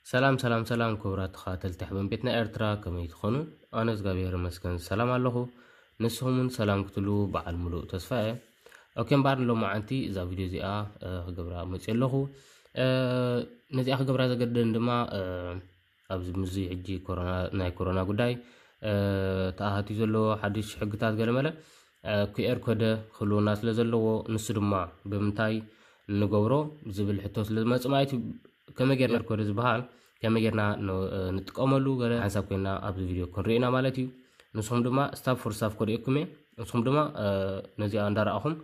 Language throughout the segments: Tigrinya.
ሰላም ሰላም ሰላም ክቡራት ተኸታተልቲ ሕበን ቤትና ኤርትራ ከመይ ትኾኑ? ኣነ እግዚኣብሔር ይመስገን ሰላም ኣለኹ። ንስኹም እውን ሰላም ክትሉ በዓል ሙሉእ ተስፋ እየ። ኦኬ እምበኣር ሎማዓንቲ እዛ ቪድዮ እዚኣ ክገብራ መፅእ ኣለኹ ነዚኣ ክገብራ ዘገደን ድማ ኣብዚ ምዚ ሕጂ ናይ ኮሮና ጉዳይ ተኣሃትዩ ዘለዎ ሓድሽ ሕግታት ገለመለ ኩኤር ኮደ ክህልውና ስለ ዘለዎ ንሱ ድማ ብምንታይ ንገብሮ ዝብል ሕቶ ስለ ዝመፅእ ማለት እዩ ከመይ ጌርና ኮደ ዝበሃል ከመይ ጌርና ንጥቀመሉ ገለ ሓንሳብ ኮይና ኣብዚ ቪድዮ ክንሪኦ ኢና ማለት እዩ ንስኹም ድማ ስታፍ ፎር ስታፍ ኮሪኤኩም እየ ንስኹም ድማ ነዚኣ እንዳረኣኹም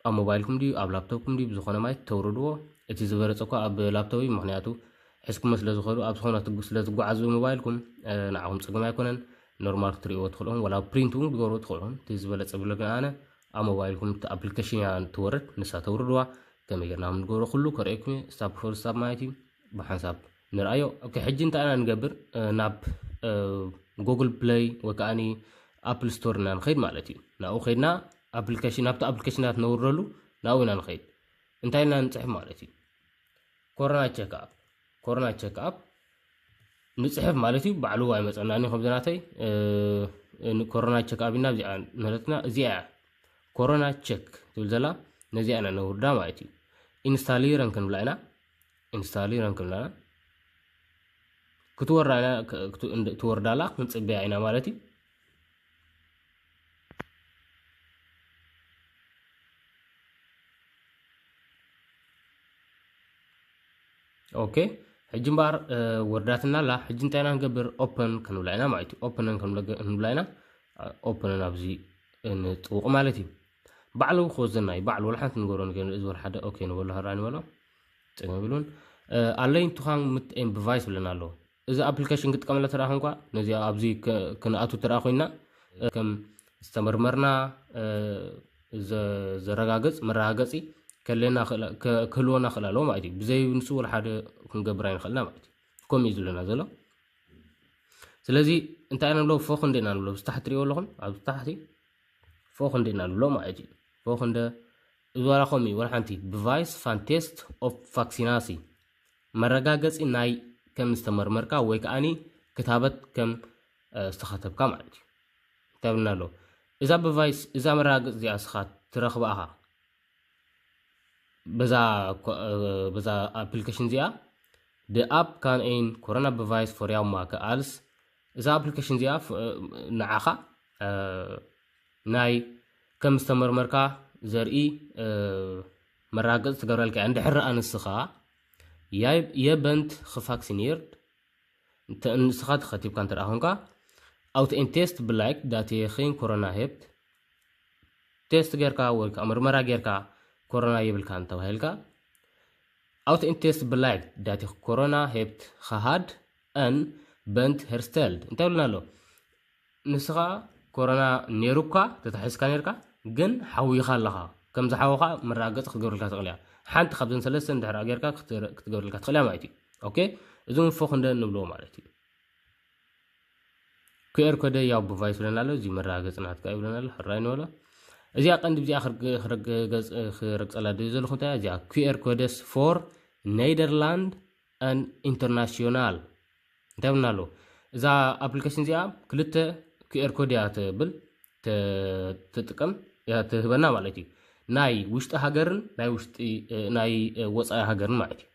ኣብ ሞባይልኩም ድዩ ኣብ ላፕቶፕኩም ድዩ ብዝኾነ ማየት ተውርድዎ እቲ ዝበለፀ እኳ ኣብ ላፕቶፕ እዩ ምክንያቱ ሕዝኩሞ ስለ ዝኸዱ ኣብ ዝኾነ ስለ ዝጓዓዝ ሞባይልኩም ንዓኹም ፅግም ኣይኮነን ኖርማል ክትሪእዎ ትኽእልኹም ወላ ፕሪንት እውን ክትገብሩ ትኽእልኹም እቲ ዝበለፀ ብለግን ኣነ ኣብ ሞባይልኩም እቲ ኣፕሊኬሽን እያ ትወርድ ንሳ ተውርድዋ ከመይ ጌርና ከም ንገብሮ ኩሉ ከርእየኩም እየ ስታፕ ፎር ስታፕ ማለት እዩ ብሓንሳብ ንርኣዮ ኦኬ ሕጂ እንታይ ኢና ንገብር ናብ ጉግል ፕለይ ወይ ከዓኒ ኣፕል ስቶር ኢና ንኸይድ ማለት እዩ ናብኡ ከይድና ኣፕሊኬሽን ናብቲ ኣፕሊኬሽናት ነውርደሉ ናብኡ ኢና ንኸይድ እንታይ ኢና ንፅሕፍ ማለት እዩ ኮሮና ቸክ ኣፕ ኮሮና ቸክ ኣፕ ንፅሕፍ ማለት እዩ ባዕሉ ኣይመፀናን እዩ ከምዚ ናተይ ኮሮና ቸክ ኣፕ ኢና እዚኣ ንረትና እዚኣ እያ ኮሮና ቸክ ትብል ዘላ ነዚኣ ኢና ነውርዳ ማለት እዩ ኢንስታሊረን ክንብላ ኢና ኢንስታሊረን ክንብላ ኢና ክትወርዳ ኢና ክትወርዳላ ክንፅበያ ኢና ማለት እዩ ኦኬ ሕጂ እምበኣር ወርዳትና ኣላ ሕጂ እንታይ ኢና ንገብር ኦፕን ክንብላ ኢና ማለት እዩ ኦፕን ክንብላ ኢና ኦፕን ኣብዚ ንጥውቕ ማለት እዩ ባዕሉ ክወዘና እዩ ባዕሉ ወላ ሓንቲ ንገሮ ንገ እዚ ወላ ሓደ ኦኬ ንበሎ ሃራ ንበሎ ፅገም ብሉን ኣለይ እንትዃን ምት ኤምብቫይስ ብለና ኣለዎ እዚ ኣፕሊከሽን ክጥቀመላ ተረኣ ኮንኳ ነዚ ኣብዚ ክንኣቱ ተረኣ ኮይና ከም ዝተመርመርና ዘረጋገፅ መረጋገፂ ከለና ክህልወና ክእል ኣለዎ ማለት እዩ ብዘይ ንሱ ወላ ሓደ ክንገብር ኣይንኽእልና ማለት እዩ ከምኡ እዩ ዝብለና ዘሎ ስለዚ እንታይ ኢና ንብሎ ፎ ክንደ ኢና ንብሎ ብዝታሕቲ ትሪእዎ ኣለኹም ኣብ ታሕቲ ፎ ክንደ ኢና ንብሎ ማለት እዩ ፎ ክንደ እዚ ዋላ ከምኡ እዩ ዋላ ሓንቲ ብቫይስ ፋንቴስት ኦፍ ቫክሲናሲ መረጋገጺ ናይ ከም ዝተመርመርካ ወይ ከኣኒ ክታበት ከም ዝተኸተብካ ማለት እዩ። እንታይ ብልና ኣሎ እዛ ብቫይስ እዛ መረጋገጺ እዚኣ ስኻ ትረኽባ ኢኻ በዛ በዛ ኣፕሊኬሽን እዚኣ ብኣፕ ካን ኤን ኮሮና ብቫይስ ፎርያው ማከ ኣልስ እዛ ኣፕሊኬሽን እዚኣ ንዓኻ ናይ ከም ዝተመርመርካ ዘርኢ መራገጽ ትገብረልካ እንድሕር ረኣ ንስኻ የበንት ክፋክሲኒርድ እንተ ንስኻ ተኸቲብካ እንተ ኮንካ ኣውት ኤን ቴስት ብላይክ ዳቴኺን ኮሮና ሄፕት ቴስት ጌርካ ወይ ከዓ ምርመራ ጌርካ ኮሮና የብልካ እንተባሂልካ ኣውት ኤን ቴስት ብላይክ ዳቴ ኮሮና ሄፕት ኸሃድ ኣን በንት ሄርስተልድ እንታይ ብልና ኣሎ ንስኻ ኮሮና ኔሩካ ተታሒዝካ ኔርካ ግን ሓዊኻ ኣለኻ ከም ዝሓወኻ መረጋገፂ ክትገብረልካ ትኽእል እያ ሓንቲ ካብዘን ሰለስተ እንድሕር ጌርካ ክትገብረልካ ትኽእል እያ ማለት እዩ ኦኬ እዚ እውን ፎክ እንደ ንብሎ ማለት እዩ ኩኤር ኮደ ያው ብቫይስ ብለና ኣሎ እዚ መረጋገፂ ናትካ እዩ ብለና ኣሎ ሕራይ ንበሎ እዚኣ ቀንዲ ብዚኣ ክረግፀላ ደዩ ዘለኹ እንታይ እዚኣ ኩኤር ኮደስ ፎር ኔደርላንድ ን ኢንተርናሽዮናል እንታይ ብልና ኣሎ እዛ ኣፕሊኬሽን እዚኣ ክልተ ክር ኮድ እያ ትብል ትጥቀም እያ ትህበና ማለት እዩ ናይ ውሽጢ ሃገርን ናይ ውሽጢ ናይ ወፃኢ ሃገርን ማለት እዩ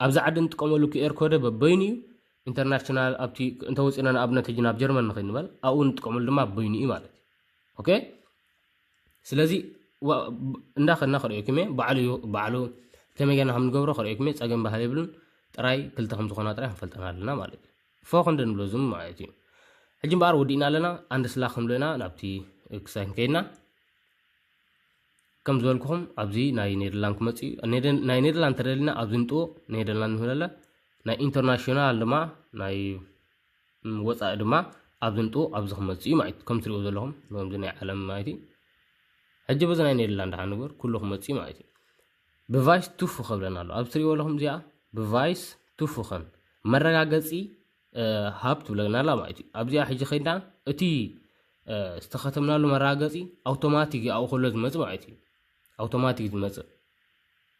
ኣብዚ ዓዲ እንጥቀመሉ ክር ኮደ በበይኑ እዩ ኢንተርናሽናል ኣብቲ እንተወፂና ንኣብነት ሕጂ ናብ ጀርመን ንኸይድ ንበል ኣብኡ እንጥቀመሉ ድማ በይኑ እዩ ማለት እዩ ኦኬ ስለዚ እንዳ ከድና ከርእየኩም እየ ባዕሉ እዩ ባዕሉ ከመይ ገና ከም ንገብሮ ከርእየኩም እየ ፀገም ባህል የብሉን ጥራይ ክልተ ከም ዝኾና ጥራይ ክንፈልጠን ኣለና ማለት እዩ ፎኽ እንደ ንብሎ ዝም ማለት እዩ ሕጂ እምበኣር ወዲእና ኣለና ኣንድ ስላ ክንብሎ ኢና ናብቲ ክሳይ ከይድና ከም ዝበልኩኹም ኣብዚ ናይ ኔደርላንድ ክመፅ እዩ ናይ ኔደርላንድ ተደሊና ኣብዚ ንጥውቕ ኔደርላንድ ንህለለ ናይ ኢንተርናሽናል ድማ ናይ ወጻኢ ድማ ኣብዚ ንጡ ኣብዚ ክመጽእ እዩ ማለት ከም ትሪኡ ዘለኹም ከምዚ ናይ ዓለም ማለት እዩ ሕጂ በዚ ናይ ኔደርላንድ ድሓን ንግበር ኩሉ ክመጽእ እዩ ማለት እዩ ብቫይስ ቱፉ ከብለና ኣሎ ኣብዚ ትሪእዎ ኣለኹም እዚኣ ብቫይስ ቱፉ ከም መረጋገጺ ሃብ ትብለና ኣላ ማለት እዩ ኣብዚኣ ሕጂ ከይድና እቲ ዝተኸተምናሉ መረጋገጺ ኣውቶማቲክ ይኣኡ ከሎ ዝመጽእ ማለት እዩ ኣውቶማቲክ ዝመጽእ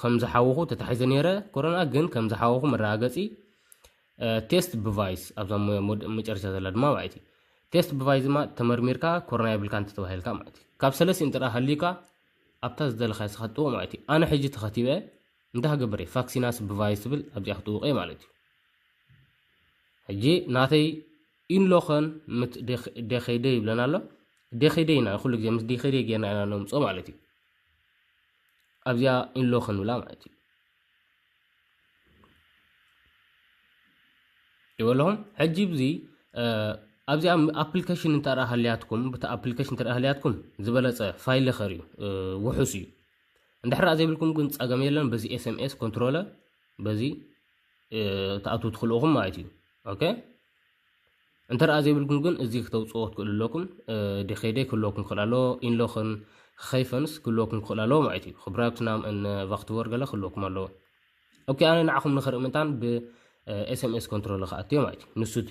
ከም ዝሓወኹ ተታሒዘ ነይረ ኮሮና ግን ከም ዝሓወኹ መረጋገፂ ቴስት ብቫይስ ኣብዛ መጨረሻ ዘላ ድማ ማለት እዩ ቴስት ብቫይስ ድማ ተመርሚርካ ኮሮና የብልካ እንተተባሂልካ ማለት እዩ ካብ ሰለስቲ እንተ ሃልዩካ ኣብታ ዝደለካ ስኻ ጥውቕ ማለት እዩ ኣነ ሕጂ ተኸቲበ እንታይ ክገብር እየ ቫክሲናስ ብቫይስ ትብል ኣብዚኣ ክትውቕ እየ ማለት እዩ ሕጂ ናተይ ኢንሎኸን ምስ ደኸይደ ይብለና ኣሎ ደኸይደ ኢና ኩሉ ግዜ ምስ ደኸይደ ጌርና ኢና ነምፅኦ ማለት እዩ ኣብዚኣ ኢንሎ ክንብላ ማለት እዩ ይበለኹም ሕጂ ብዚ ኣብዚኣ ኣፕሊኬሽን እንተ ሃልያትኩም ብቲ ኣፕሊኬሽን እንተ ሃልያትኩም ዝበለፀ ፋይል ኸር እዩ ውሑስ እዩ እንድሕር ዘይብልኩም ግን ፀገም የለን በዚ ኤስኤምኤስ ኮንትሮለ በዚ ተኣትው ትኽልኡኹም ማለት እዩ ኦኬ እንተደኣ ዘይብልኩም ግን እዚ ክተውፅዎ ክትክእሉ ኣለኩም ዲኼደይ ክህልወኩም ክኽእል ኣሎ ኢንሎኽን ኸይፈንስ ክህልወኩም ክኽእል ኣለዎ ማለት እዩ ክብራብት ናም እን ቫክትቮር ገለ ክህልወኩም ኣለዎ ኦኬ ኣነ ንዓኹም ንኽርኢ ምንታን ብኤስኤምኤስ ኮንትሮል ክኣትዮ ማለት እዩ ንሱ እቲ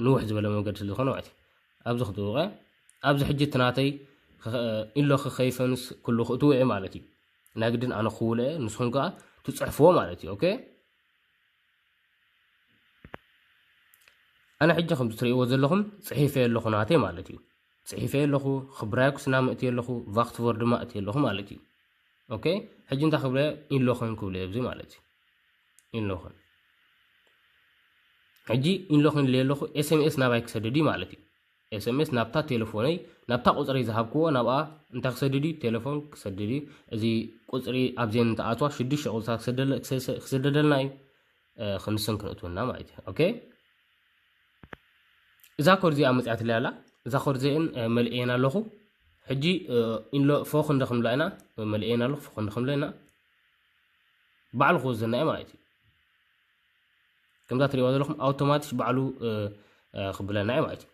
ንውሕ ዝበለ መንገዲ ስለ ዝኾነ ማለት እዩ ኣብዚ ክትውቀ ኣብዚ ሕጂ እቲ ናተይ ኢሎ ክኸይፈንስ ኩሉ ክእትዎ እየ ማለት እዩ ናይ ግድን ኣነ ክውለ እየ ንስኹም ከዓ ትፅሕፍዎ ማለት እዩ ኦኬ ኣነ ሕጂ ከም ትርእይዎ ዘለኹም ጽሒፈዮ ኣለኹ ናተይ ማለት እዩ ጽሒፈዮ ኣለኹ ክብራይኩስና ምእትዮ ኣለኹ ቫክትቮር ድማ እትዮ ኣለኹ ማለት እዩ ኦኬ ሕጂ እንታይ ክብለ ኢንሎኸን ክብለ ኣብዚ ማለት እዩ ኢንሎኸን ሕጂ ኢንሎኸን ኢለ ኣለኹ ኤስኤምኤስ ናባይ ክሰደድ እዩ ማለት እዩ ኤሰምስ ናብታ ቴለፎነይ ናብታ ቁጽሪ ዝሃብክዎ ናብኣ እንታይ ክሰድድ እዩ ቴለፎን ክሰድድ እዩ እዚ ቁጽሪ ኣብዘን እንትኣትዋ ሽዱሽተ ቁጽርታት ክሰደለ- ክሰ- ክስደደልና እዩ እ፣ ክንስን ክንእትውና ማለት እዩ ኦኬ እዛ ኮድ እዚኣ መጽያትለይ ኣላ እዛ ኮድ እዚአን እ፣ መልእየን ኣለኹ ሕጂ እ፣ ኢንሎ ፎ ክንደ ክንብላ ኢና መልእየን ኣለኹ ፎ ክንደ ክንብላ ኢና ባዕሉ ክወዘና እዩ ማለት እዩ ከምዛ ትሪእዋ ዘለኹም ኣውቶማቲሽ ባዕሉ ክብለና እዩ ማለት እዩ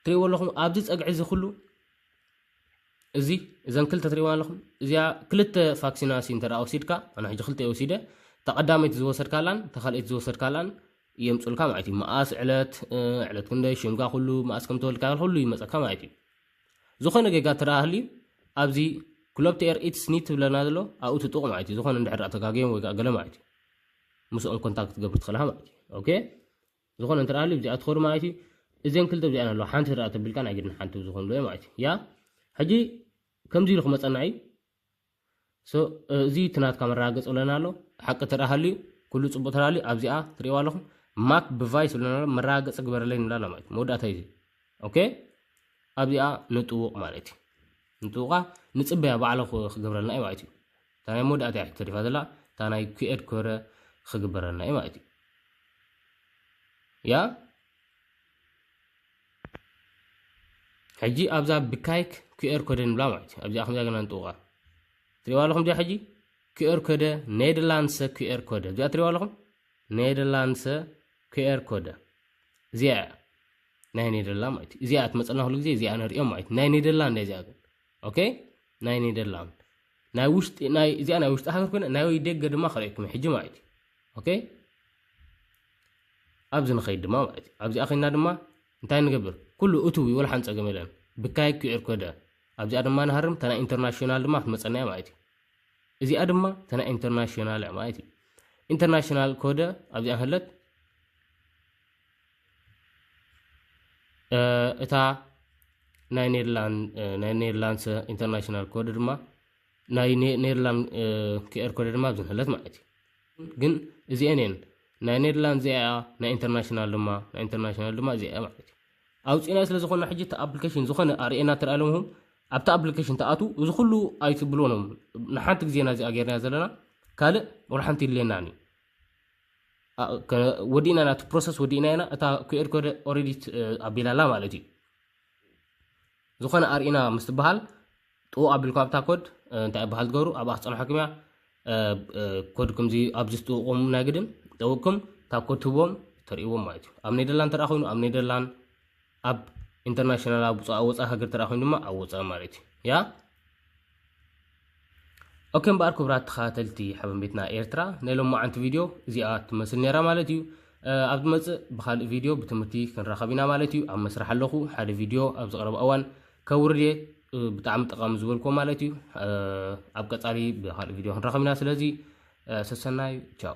ትሪእዎ ኣለኹም ኣብዚ ፀግዒ እዚ ኩሉ እዚ እዘን ክልተ ትሪእዋ ኣለኹም እዚኣ ክልተ ፋክሲናሲ እንተ ወሲድካ ኣነ ሕጂ ክልተ ወሲደ ተቐዳመይቲ ዝወሰድካላን ተካልኣይቲ ዝወሰድካላን የምፅልካ ማለት እዩ መኣስ ዕለት ዕለት ክንደይ ሽምካ ኩሉ መኣስ ከም ተወልድካ ኩሉ ይመፀካ ማለት እዩ ዝኾነ ጌጋ ትረኣህሊ ኣብዚ ክሎብቲ ኤር ኢትስ ኒት ትብለና ዘሎ ኣብኡ ትጥቕ ማለት እዩ ዝኾነ እንድሕር ተጋግዮም ወይ ገለ ማለት እዩ ምስኦም ኮንታክት ክትገብር ትኽእል ኢኻ ማለት እዩ ኦኬ ዝኾነ እንተ ሃልዩ ብዚኣ ትኸዱ ማለት እዩ እዘን ክልተ ብዚኣን ኣለዋ ሓንቲ ትረኣ ተቢልካ ናይ ግድን ሓንቲ ዝኾኑ ዶ ማለት እዩ ያ ሕጂ ከምዚ ኢሉ ክመፀና እዩ እዚ እቲ ናትካ መረጋገፂ ብለና ኣሎ ሓቂ ትረኣ ሃልዩ ኩሉ ፅቡቅ ተላልዩ ኣብዚኣ ትሪእዋ ኣለኹም ማክ ብቫይስ ብለና ኣሎ መረጋገፂ ግበረለይ ንብላ ኣላ ማለት መወዳእታ እዩ ኦኬ ኣብዚኣ ንጥውቕ ማለት እዩ ንጥውቓ ንፅበያ ባዕለ ክገብረልና እዩ ማለት እዩ እታ ናይ መወዳእታ እያ ተሪፋ ዘላ እታ ናይ ኩኤድ ኮረ ክግበረና እዩ ማለት እዩ ያ ሕጂ ኣብዛ ብካይክ ኩኤር ኮደ ንብላ ማለት እዩ ኣብዚኣ ከምዚኣ ገና ንጥውቃ ትሪእዋ ኣለኹም እዚኣ ሕጂ ኩኤር ኮደ ኔደርላንድሰ ኩኤር ኮደ እዚኣ ትሪእዋ ኣለኹም ኔደርላንድሰ ኩኤር ኮደ እዚኣ እያ ናይ ኔደርላንድ ማለት እዩ እዚኣ ትመፀና ኩሉ ግዜ እዚኣ ንሪኦም ማለት እዩ ናይ ኔደርላንድ እያ እዚኣ ግን ኦኬ ናይ ኔደርላንድ ናይ ውሽጢ ናይ እዚኣ ናይ ውሽጢ ሃገር ኮይነ ናይ ደገ ድማ ክርእየኩም ሕጂ ማለት እዩ ኦኬ ኣብዚ ንኸይድ ድማ ማለት እዩ ኣብዚኣ ኮይና ድማ እንታይ ንገብር ኩሉ እትው ይወል ሓንፀገም የለን ብካይ ክዕር ኮደ ኣብዚኣ ድማ ንሃርም ተና ኢንተርናሽናል ድማ ክትመፀናያ ማለት እዩ እዚኣ ድማ ተና ኢንተርናሽናል ማለት እዩ ኢንተርናሽናል ኮደ ኣብዚኣ ህለት እታ ናይ ኔርላንስ ኢንተርናሽናል ኮድ ድማ ናይ ኔርላንድ ክኤር ኮድ ድማ ዝንህለት ማለት እዩ ግን እዚአን እየን ናይ ኔርላንድ እዚኣ ናይ ኢንተርናሽናል ድማ ናይ ኢንተርናሽናል ድማ እዚኣ ማለት እዩ ኣውፂእና ስለ ዝኾነ ሕጂ እቲ ኣፕሊኬሽን ዝኾነ ኣርእና ትርኣ ለምኹም ኣብቲ ኣፕሊኬሽን ተኣትው እዚ ኩሉ ኣይትብልዎኖም ንሓንቲ ግዜና እዚኣ ጌርና ዘለና ካልእ ወላ ሓንቲ የድልየናን እዩ ወዲእና ናቲ ፕሮሰስ ወዲእና ኢና እታ ኩኤር ኮደ ኦሬዲት ኣቢላላ ማለት እዩ ዝኾነ ኣርኢና ምስ ትበሃል ጥኡ ኣቢልኩ ኣብታ ኮድ እንታይ ይበሃል ትገብሩ ኣብኣ ክፀንሐኩም እያ ኮድ ከምዚ ኣብዚ ዝጥውቁም ናይ ግድን ጠውቅኩም እታ ኮድ ትህቦም ተርእዎም ማለት እዩ ኣብ ኔደርላንድ ተረኣ ኮይኑ ኣብ ኔደርላንድ ኣብ ኢንተርናሽናል ኣብ ውፃ ወፃ ሃገር ተራ ኮይኑ ድማ ኣብ ወፃ ማለት እዩ ያ ኦኬ እምበኣር ክብራት ተኸታተልቲ ሓበን ቤትና ኤርትራ ናይ ሎማዓንቲ ቪድዮ እዚኣ ትመስል ነራ ማለት እዩ ኣብ ዝመፅእ ብካልእ ቪድዮ ብትምህርቲ ክንራኸብ ኢና ማለት እዩ ኣብ መስራሕ ኣለኹ ሓደ ቪድዮ ኣብ ዝቕረብ እዋን ከውርድ እየ ብጣዕሚ ጠቓሚ ዝበልኩዎ ማለት እዩ ኣብ ቀፃሊ ብካልእ ቪድዮ ክንራኸብ ኢና ስለዚ ሰሰናዩ ቻው